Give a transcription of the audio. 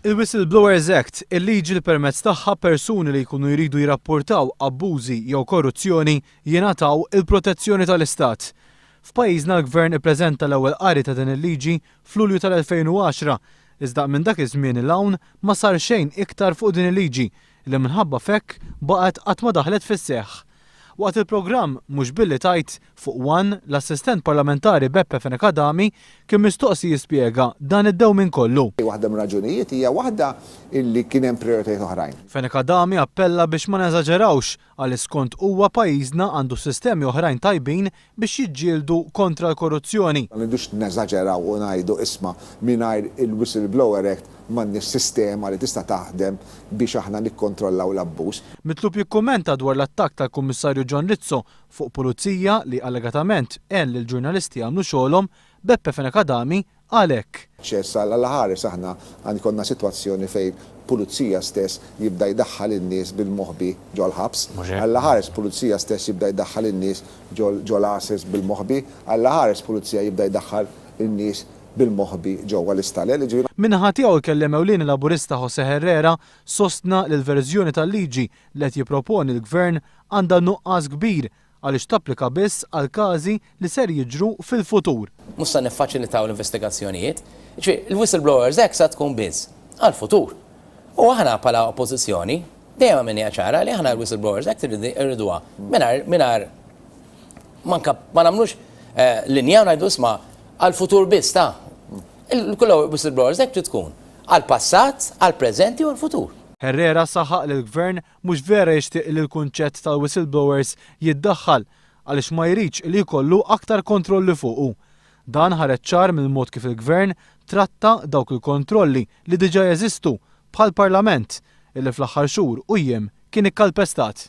Il-Whistleblowers Act, il-liġi li permezz tagħha persuni li jkunu jridu jirrappurtaw abbużi jew korruzzjoni jingħataw il-protezzjoni tal-Istat. F'pajjiżna l-Gvern ippreżenta l-ewwel qari ta' din il-liġi f'Lulju tal-2010, iżda minn dak iż-żmien 'l hawn ma sar xejn iktar fuq din il-liġi li minħabba f'hekk baqgħet qatt ma daħlet fis-seħħ. Waqt il-programm Mhux Billi Tgħid fuq one, l-Assistent Parlamentari Beppe Fenech Adami kien mistoqsi jispjega dan id-dewmien kollu. Waħda mir-raġunijiet hija waħda illi kien hemm prijoritajiet oħrajn. Fenech Adami appella biex ma neżaġerawx għaliex skont huwa pajjiżna għandu sistemi oħrajn tajbin biex jiġġieldu kontra l-korruzzjoni. Ma rridux neżaġeraw u ngħidu isma' mingħajr il-Whistleblower Act m'għandniex sistema li tista' taħdem biex aħna nikkontrollaw l-abbuż. Mitlub jikkummenta dwar l-attakk tal-Kummissarju John Rizzo fuq Pulizija li allegatament għen lill-ġurnalisti jagħmlu xogħolhom, Beppe Fenech Adami għalhekk. Ċess għal Alla Ħares aħna għan ikollna sitwazzjoni fejn pulizija stess jibda jdaħħal in-nies bil-moħbi ġol ħabs. Mhux hekk? Alla Ħares pulizija stess jibda jdaħħal in-nies ġol ġol għases bil-moħbi. Alla Ħares pulizija jibda jdaħħal in-nies bil-moħbi ġewwa l-istalel, jiġifieri. Min-naħa tiegħu il-Kelliem Ewlieni Laburista Jose Herrera sostna li l-verżjoni tal-liġi li qed jipproponi l-Gvern għandha nuqqas kbir għaliex tapplika biss għal każi li ser jiġru fil-futur. Mhux se niffaċilitaw l-investigazzjonijiet. Jiġifieri, il-Whistleblowers Act sa tkun biss għall-futur. U aħna bħala Oppożizzjoni dejjem għamilniha ċara li aħna l-Whistleblowers Act irriduha mingħajr mingħajr ma ma nagħmlux linja u ngħidu isma' għall-futur biss ta' il-Whistleblowers Act trid tkun għall-passat, għall-preżenti u għall-futur. Herrera saħaq li l-Gvern Mhux vera jixtieq li l-kunċett tal-whistleblowers jiddaħħal għaliex ma jridx li jkollu aktar kontrolli fuqu. Dan ħareġ ċar mill-mod kif il-Gvern tratta dawk il-kontrolli li diġà jeżistu bħall-Parlament illi fl-aħħar xhur u jiem kien ikkalpestat.